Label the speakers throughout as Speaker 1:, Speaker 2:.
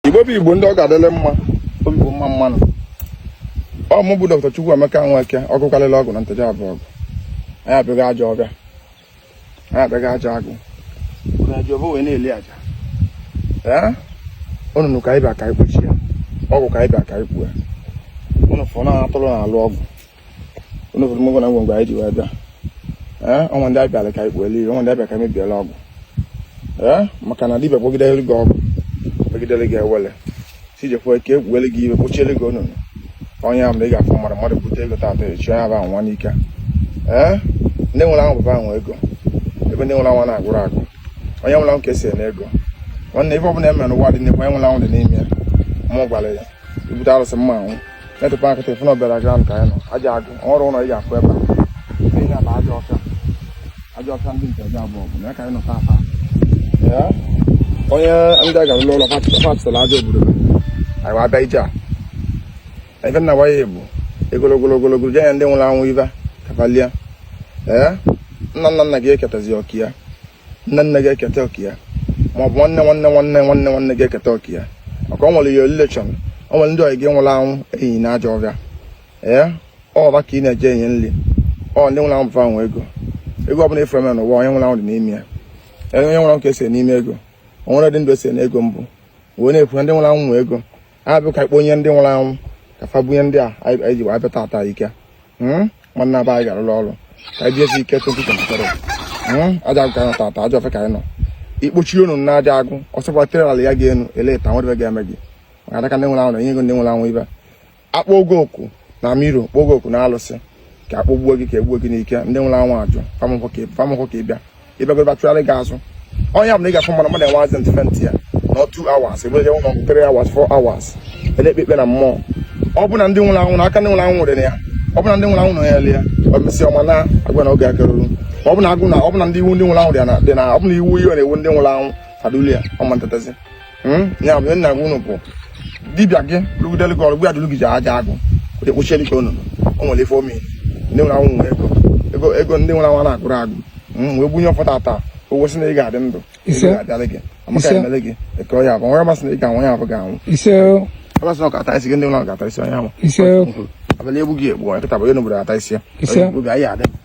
Speaker 1: igbo bụ igbo ndị ọ ga-adịlị mma obi bụ mma mma nụ ọ mụ bụ doctor Chukwuemeka Nweke ọgwụ karịrị ọgwụ na Nteje Abọgụ anyị abịago ajọ ọfịa anyị abịago ajọ agụ na ajọ ọfịa wee na-eli aja ee onunu ka anyị bịa ka anyị kpochie ọgwụ ka anyị bịa ka anyị kpue unu fụ na atụrụ na-alụ ọgwụ unu fụrụ ọgwụ na ngwongwo anyị ji wee bịa ee o nwee ndị anyị bịara ka anyị kpuele ili o nwee ndị anyị bịa ka anyị mebiela ọgwụ ee maka na dibịa kpọgidere gị ọgwụ kpọgidere gị ewele tijekwa ka e kpuele gị iwe kpochiele gị onunu onye ahụ mgbe ị ga-afụ mmadụ mmadụ bute ego tata echi onye ahụ anwụọ n'ike ee ndị nwụrụ anwụ bụ fa nwe ego ebe ndị nwụrụ anwụ na-agụrụ agụ onye nwụrụ anwụ ka e se n'ego nwanne ife ọbụla e mere n'ụwa dị n'ekwe onye nwụrụ anwụ dị n'ime ya mụ gwara ya ibute arụsị mma anwụ netị paakị tefụ na ọbịara gị ka anyị nọ ajọ agụ ọrụ ụlọ ị ga-afụ ebe a ihe na ajọ ọfịa ajọ ọfịa ndị Nteje Abọgụ bụ na ya ka anyị nọ tata onye ndị a gara ụlọ ụlọ fatịsịla aja obodo anyị wee abịa ije a ebe nna gwa ya bụ egologolo ogologo jee ya ndị nwụrụ anwụ ibe kapalia ee nna nna nna gị eketazi oke ya nne nne gị eketa oke ya ma ọ bụ nwanne nwanne nwanne nwanne nwanne gị eketa oke ya maka o nwere your relation o nwere ndị ọyị gị nwụrụ anwụ enyi na ajọ ọfịa ee ọ bụ fa ka ị na-eje enye nri ọ ndị nwụrụ anwụ bụ fa nwe ego ego ọbụla ị fụrụ e mere n'ụwa onye nwụrụ anwụ dị n'ime ya onye nwụrụ anwụ ka e se n'ime ego o nwere dị ndụ e se n'ego mbụ wee na-ekwu na ndị nwụrụ anwụ nwe ego ha bịa ka ikpe onye ndị nwụrụ anwụ ka fa bunye ndị a anyị ji wee bịa tata ike hmm? nwanne aba anyị ga-arụrụ ọrụ ka anyị jiesi ike 2023 hmm? ajọ agụ ka anyị nọ tata ajọ ọfịa ka anyị nọ ikpochi onunu na ajọ agụ ọsọkwa tere ala ya ga-enu eleta nwere ga-eme gị maka adaka ndị nwụrụ anwụ na-enye ego ndị nwụrụ anwụ ibe akpọ gị oku na mirror kpọọ gị oku na alụsị ka a kpọgbuo gị ka e gbuo gị n'ike ndị nwụrụ anwụ ajụ famụkwọ ka ị bịa ị bịagoro fa tụgharị gị azụ ọ ya bụ na ị ga-afụ mmadụ mmadụ enwe accident faintịa nọ 2 hours ebe je ụlọ 3 hours 4 hours na-ekpe ikpe na mmụọ ọ bụ na ndị nwụrụ anwụ na aka ndị nwụrụ anwụ nwere ya ọ bụ na ndị nwụrụ anwụ nọ ya lie ọ mesịa ọma na-agwa na oge akarurọ ọ bụ na agụ na ọ bụ na ndị iwu ndị nwụrụ anwụ dị na ọ bụ na iwu ihe na-ewu ndị nwụrụ anwụ fa adulia ọ ma ntetazi Hmm? ya bụ nna gị unu bụ dibịa gị lụgidere gị ọrụ gwa dịlụ gị ji ajọ agụ ekpochiere ka onunu o nwere ife omi ndị nwụrụ anwụ nwere ego ego ego ndị nwụrụ anwụ na-agụrụ agụ hmm, wee bunye ọfọ tata ụgwọ sị na ị ga-adị ndụ ga-adịlị gị amaka emele gị eke ọya bụ nwere masị na ị ga-anwụ ya abụ ga-anwụ ọ ma sị na ọ ga-ata isi gị ndị nwụrụ ga-ata isi onye ahụ abalị egbu gị egbu nkịta bụ onye n'obodo ata isi ya obi anyị adị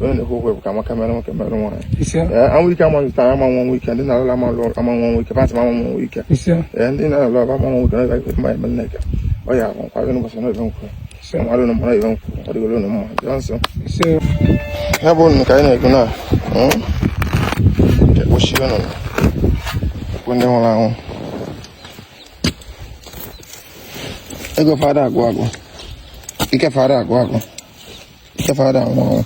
Speaker 1: onye na-ekwu okwu ka amaka mere nwoke mere nwaanyị ọnwụ ike ama zụtara ama anwụ ọnwụ ike ndị na-alụla ama lụ ama anwụ ọnwụ ike pantị ama anwụ ọnwụ ike ndị na-alụ aba ama anwụ ọnwụ ike na ebe mma ebe nneka ọ ya akwa nkwago n'ụbọchị na ebe nkwụ mmadụ na mmadụ ebe nkwụ ọ dịgolu unu mma jụọ nsọ ya bụ unu ka anyị na-ekwu na ekpochi ọnụ ekwu ndị nwụrụ anwụ ego fa ada agwụ agwụ ike fa ada agwụ agwụ Ike fa ada anwụ anwụ.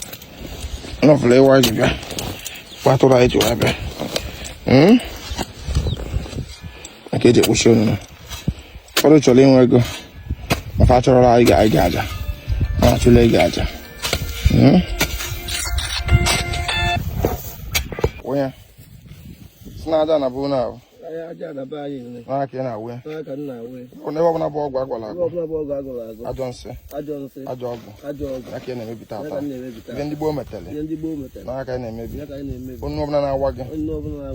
Speaker 1: Nọfụla ịwa ji bịa. Kpatụrụ anyị ji wee bịa. Hmm? Maka eji ekpochi onunu. Ụfọdụ chọrọ inwe ego. Ma fa achọrọla anyị ga anyị ga aja. Ma achụla ego aja. Hmm? Onye. Si na aja na bụ na ahụ. n'aka ị na-awụ ya ebe ọbụla bụ ọgwụ agwọrọ agwọ ajọ nsị ajọ ọgwụ n'aka ị na-emebi tata ihe ndị gboo metere n'aka ị na-emebi onye ọbụla na-awa gị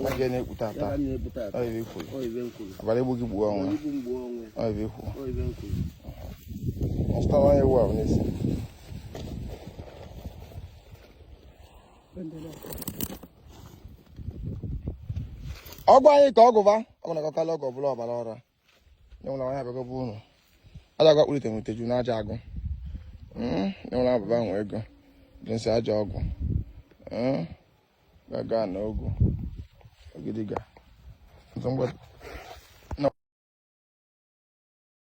Speaker 1: n'aka ị na-ekpu tata ive ikwuru abalị egbu gị gbuo onwe ive ikwuru ọsụtara onye ewu ahụ n'isi ọgwụ anyị ka ọgụva ọ bụ na-akalị ọgwụ ọbụla ọbara ọra nyenwụla nwaanyị abịago bụ ụlọ aja agwa kpụlite nwete ju na aja agụ hmm, nyenwụla ababa nwe ego dị nsị aja ọgwụ hmm, gaga na ogwu ogidiga